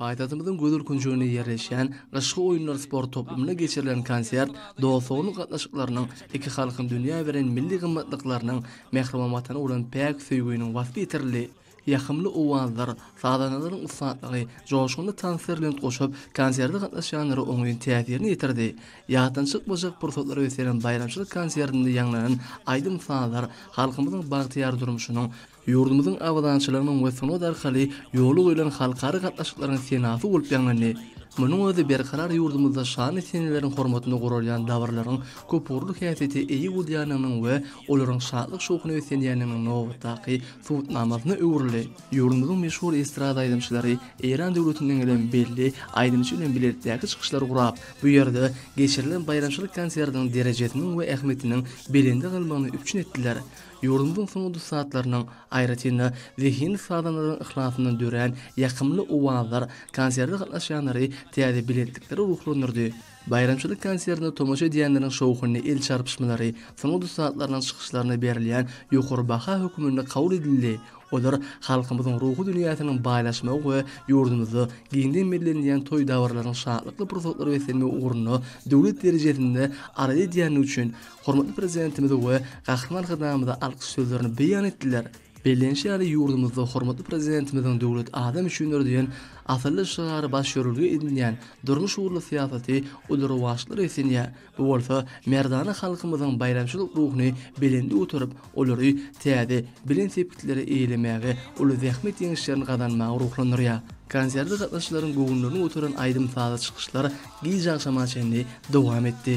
Paýtagtymyzyň gözel künjeginde ýerleşýän Gyşky oýunlar sport toplumynda geçirilen konsert dost-doganlyk gatnaşyklarynyň, iki halkyň dünýä beren milli gymmatlyklarynyň, mähriban Watana bolan päk söýgüniň waspy ýetirildi. Ýakymly owazlar, sazandalaryň ussatlygy, joşgunly tanslar lent goşup, konserde gatnaşýanlara oňyn täsirini ýetirdi. Ýatdan çykmajak pursatlar ösdüren baýramçylyk konsertinde ýaňlanan aýdym-sazlar halkymyzyň bagtyýar durmuşynyň, Ýurdumyzyň abadançylygynyň we sungat arkaly ýola goýlan halkara gatnaşyklaryň senasy bolup ýaňlandy. Munuň özi berkarar ýurdumyzda şanly seneleriň hormatyna guralýan dabararyň köpugurly häsiýete eýe bolýandygynyň we olaryň şatlyk-şowhuna beslenýändiginiň nobatdaky subutnamasyna öwrüldi. Ýurdumyzyň meşhur estrada aýdymçylary Eýran döwletinden gelen belli aýdymçy bilen bilelikdäki çykyşlar gurap, bu ýerde geçirilen baýramçylyk konsertiniň derejesiniň we ähmiýetiniň belende galmagyny üpjün etdiler. Ýurdumyzyň sungat ussatlarynyň, aýratyn-da, zehinli sazandalaryň yhlasyndan dörän ýakymly owazlar konserde gatnaşýanlary täze belentliklere ruhlandyrdy. Baýramçylyk konsertine tomaşa edýänleriň şowhunly el çarpyşmalary sungat ussatlarynyň çykyşlaryna berilýän ýokary baha hökmünde kabul edildi, olar halkymyzyň ruhy dünýäsiniň baýlaşmagy we ýurdumyzda giňden bellenilýän toý-dabaralaryň şatlykly pursatlary beslenmegi ugrunda döwlet derejesinde arza edýändigi üçin Hormatly Prezidentimize we Gahryman Arkadagymyza alkyş sözlerini beýan etdiler. Bellenişi ýaly, ýurdumyzda Hormatly Prezidentimiziň Döwlet adam üçindir! diýen asylly şygary baş ýörelge edinýän durmuş ugurly syýasaty uly rowaçlar esenýär. Bu bolsa merdana halkymyzyň baýramçylyk ruhuny belende göterip, olary täze belent sepgitlere eýlemäge, uly zähmet ýeňişlerini gazanmaga ruhlandyrýar. Konserde gatnaşyjylaryň göwünlerini göteren aýdym-sazly çykyşlar gijagşama çenli dowam etdi.